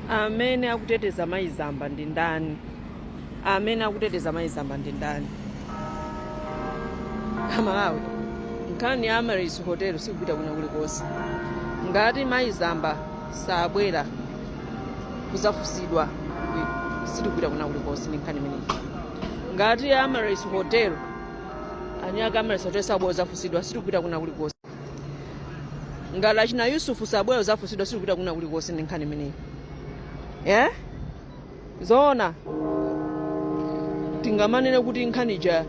amene akuteteza mayi zamba ndi ndani amene akuteteza mayi zamba ndi ndani amalawi nkhani ya amaryllis hotel sikupita kuna kulikonse ngati mayi zamba sabwera kuzafunsidwa sitikupita kuna kulikonse ndi nkhani imeneyi ngati amaryllis hotel anyake amaryllis hotel sabwera kuzafunsidwa sitikupita kuna kulikonse ngati achina yusuf sabwera kuzafunsidwa sitikupita kuna kulikonse ndi nkhani imeneyi eh? zoona tingamanene kuti nkhani ija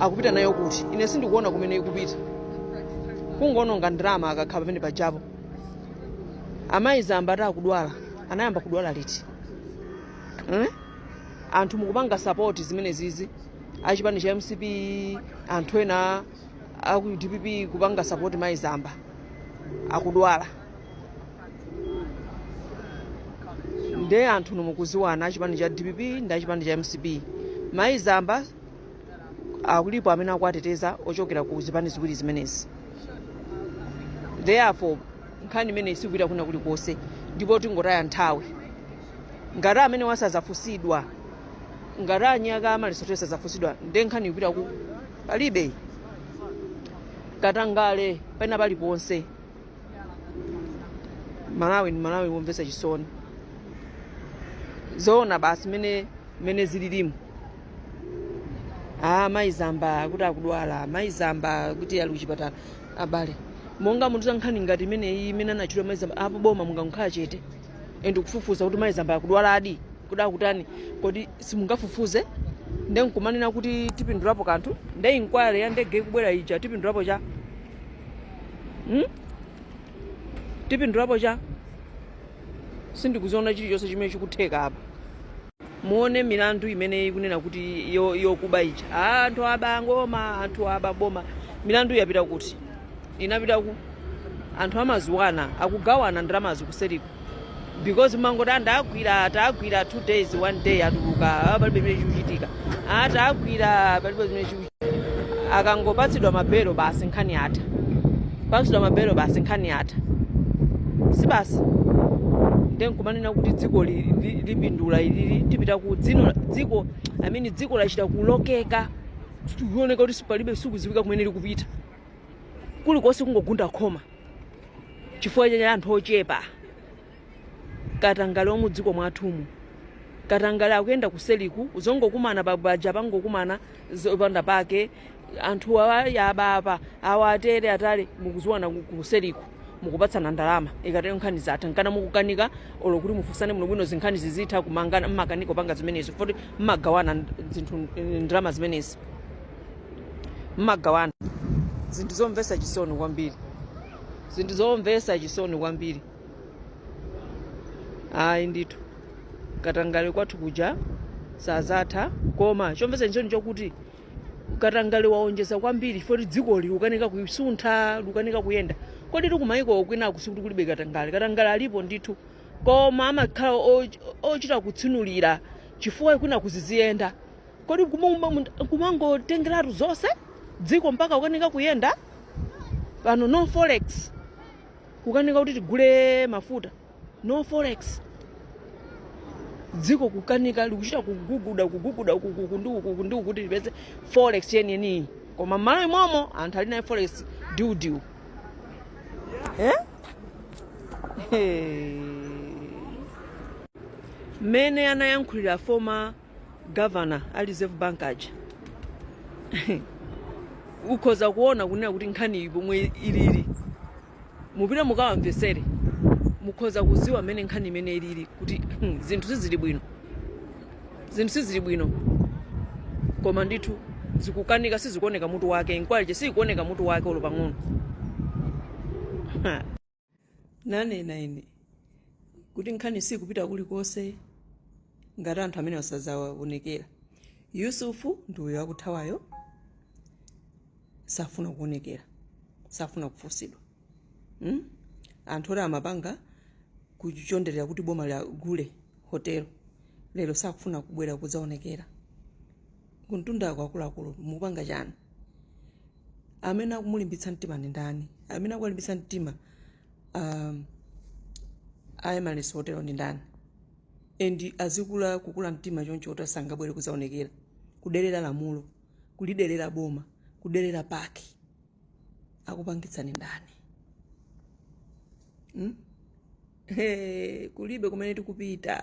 akupita nayo kuti ine sindikuona kumene ikupita kungoononga ndalama akakhala pamene pajapo amayi zamba ati akudwala anayamba kudwala liti eh? anthu mukupanga sapoti zimene izi achipani cha mcp anthu ena aku dpp kupanga support mayi zamba akudwala nde anthu inu mukuziwana achipani cha dpp ndi achipani cha mcp mayi zamba alipo amene akuwateteza ochokera ku zipani ziwiri zimenezi therefore nkhani imeneyi sikupita kuna kulikonse ndipo tingotaya nthawi ngati amenewa sazafunsidwa ngati anyake amaryllis hotel sazafunsidwa nde nkhani ikupita ku palibe katangale pena paliponse malawi ndi malawi womvetsa chisoni zoona basi mmene zililimu ah mayi zamba kuti akudwala mayi zamba kuti ali kuchipatala abale monga munthu za nkhani ngati imeneyi imene anatchulidwa mayi zamba apo boma mungamukhala chete osafufuza kuti mayi zamba akudwaladi kuti akutani kodi simungafufuze nde nkumanena kuti tipindulapo kanthu nde inquiry ya ndege ikubwera ija tipindulapo cha hmm? tipindulapo cha sindikuziona chilichonse chimene chikutheka apa Muone milandu imene ikunena kuti yo, yokuba ija ah, anthu abaa boma anthu aba boma milandu yapita kuti inapita ku anthu amaziwana akugawana ndalamazi kuseriko because mmangoti tawagwira tawagwira two days one day atuluka ah, palibe chimene chikuchitika ah, tagwira palibe chimene chikuchitika akangopatsidwa mabelo basi nkhani yatha patsidwa mabelo basi nkhani yatha si basi nde nkumanena kuti dziko li- li- lipindula ilili tipita ku dzi- dziko i mean dziko lachita kulokeka likuoneka kuti palibe sikuziwika kumene likupita kulikonse kungogunda khoma chifukwa cha anthu ochepa katangale wamudziko mwathumu katangale akuyenda kuseliku zongokumana pabaja pangokumana zopanda pake anthu awa aba apa awa atere atale mukuziwana ku- kuseliku mukupatsana ndalama ikatero nkhani zatha nkana mukukanika olo kuti mufunsane bwinobwino zinkhani zizitha kumangana mmakanika panga zimenezo foti mmagawana nd- zinthu ndalama zimenezi mmagawana zinthu zomvesa chisoni kwambiri zinthu zomvesa chisoni kwambiri ayi ndithu katangale kwathu kuja sazatha koma chomvetsa chisoni chokuti katangale waonjeza kwambiri foti dzikoli likukanika kusuntha likukanika kuyenda koditu kumayiko kwinaku sikuti kulibe katangale katangale alipo ndithu koma amakhala o- ochita kutsinulira chifukwa kwina kuziziyenda kodi kuma- kumangotengeratu zonse dziko mpaka kukanika kuyenda pano no forex kukanika kuti tigule mafuta no forex dziko kukanika likuchita kuguguda kuguguda ukukuku ndi ukuku ndi ukuti lipeze forex yeniyeniyi koma mmalo imomo anthu ali nayo forex diudiu eh? Hey. mmene anayankhulira former governor a reserve bank aja ukhoza kuona kunena kuti nkhaniyi pomwe ilili mupite mukawamvesere mukhoza kuziwa mmene nkhani imeneyi ilili kuti hmm, zinthu sizili bwino zinthu sizili bwino koma ndithu zikukanika sizikuoneka mutu wake inquiry ija siyikuoneka mutu wake olo pang'ono nanena ine kuti nkhani siikupita kulikonse ngati anthu amenewa sazaonekera yusufu ndi uyo akuthawayo safuna kuonekera safuna kufunsidwa mm? anthu oti amapanga kuchonderera kuti boma lagule hotelo lero sakufuna kubwera kudzaonekera kumtundako akuluakulu mukupanga chani amene akumulimbitsa mtima ndi ndani amene akuwalimbitsa mtima um, a amaryllis hotelo ndi ndani and azikula kukula mtima choncho kuti sangabwere kuzaonekera kuderera lamulo kuliderera boma kuderera PAC akupangitsa ndi ndani hmm? Hey, kulibe kumene tikupita